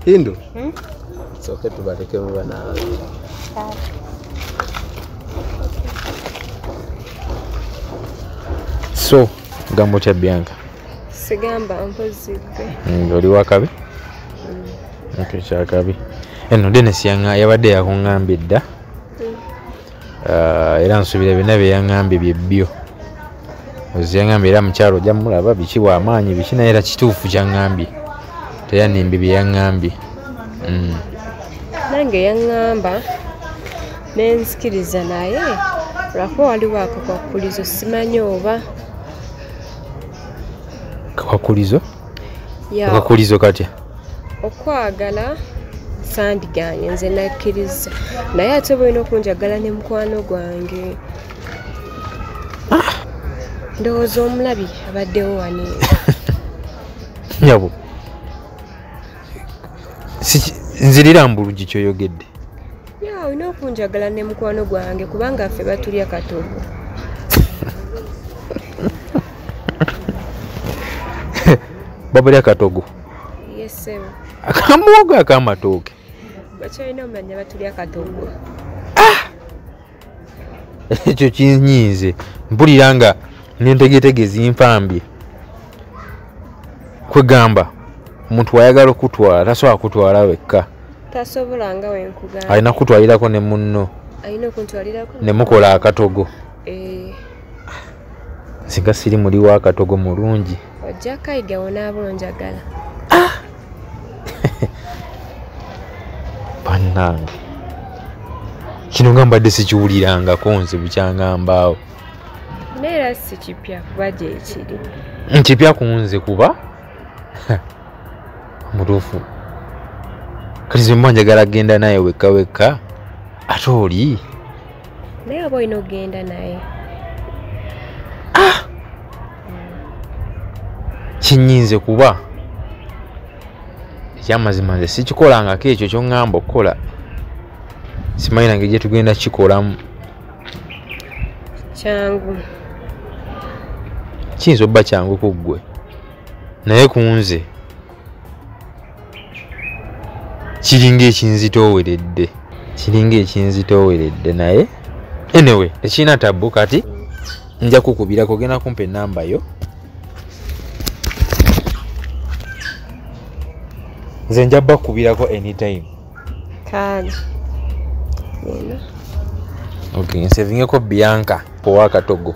Hindu. Hmm? It's okay to bareke mu bana. So, gambo cha Bianca. Sigamba mpozi gwe. Mm, oli wakabi? Mm. Okay, cha kabi. Eno Dennis yanga yabadde yakungambye dda. Mm. ah, era nsubira byonna byeyaŋambye byebbyo oziyaŋambye era mukyalo ojja mulaba biki wamaanyi biki naye era kituufu kyaŋambye teyanimbi byeyaŋambye mm. nange yaŋamba nenzikiriza naye lwakuba waliwo akakwakulizo simanyi oba kakwakulizo okakuliza okatya okwagala sandiganye nze nakkiriza naye ate bulina okunjagala ne mukwano gwange ah! ndowooza omulabi abaddewo wani nyabo nzirira mbulugi kyoyogedde ya olina okunjagala ne mukwano gwange kubanga ffe batulya katogo babulya katogo yesebo akamuwogo akamatooke bakyalina omanya batulya katogo ah! ekyo kinyiize mpulira nga nentegetege zimpambye kwegamba omuntu wayagala okutwala tasobola kutwala wekka tasobola nga wenkugamba alina kutwalirako ne munno alina okuntwalirako ne mukola akatogo eh. singa siri muli wa akatogo mulungi ojja kayiga wonaaba onjagala ah! bannange kino nga mbadde sikiwulirangako nze bukyangambaawo naye era sikipya kuba gyekiri nkipya ku nze kuba mutuufu kati zimba njagala kugenda naye wekka wekka ate oli naye oba olina okugenda naye ah! kinyinze kuba ekyamazima nze sikikolangako ekyo kyoŋŋamba okukola simanyi nange gyetugenda kikolamu kyangu kiyinza obba kyangu ku ggwe naye ku nze kiringa ekinzitooweredde kiringa ekinzitooweredde naye enewe tekirina tabbu kati nja kukubira kugenda kumpa enamba yo nze nja bakubirako anytime kaali eno ok nsevingeko bianca owa katogo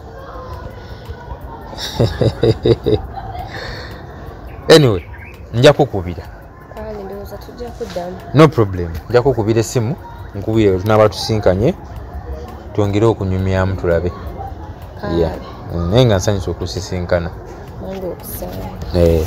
anyway nja kukubira no problem nja kukubira essimu nkubire wetunaba tusinkanye twongere okunyumyamu tulabe naye nga nsanyusa okusisinkana eh.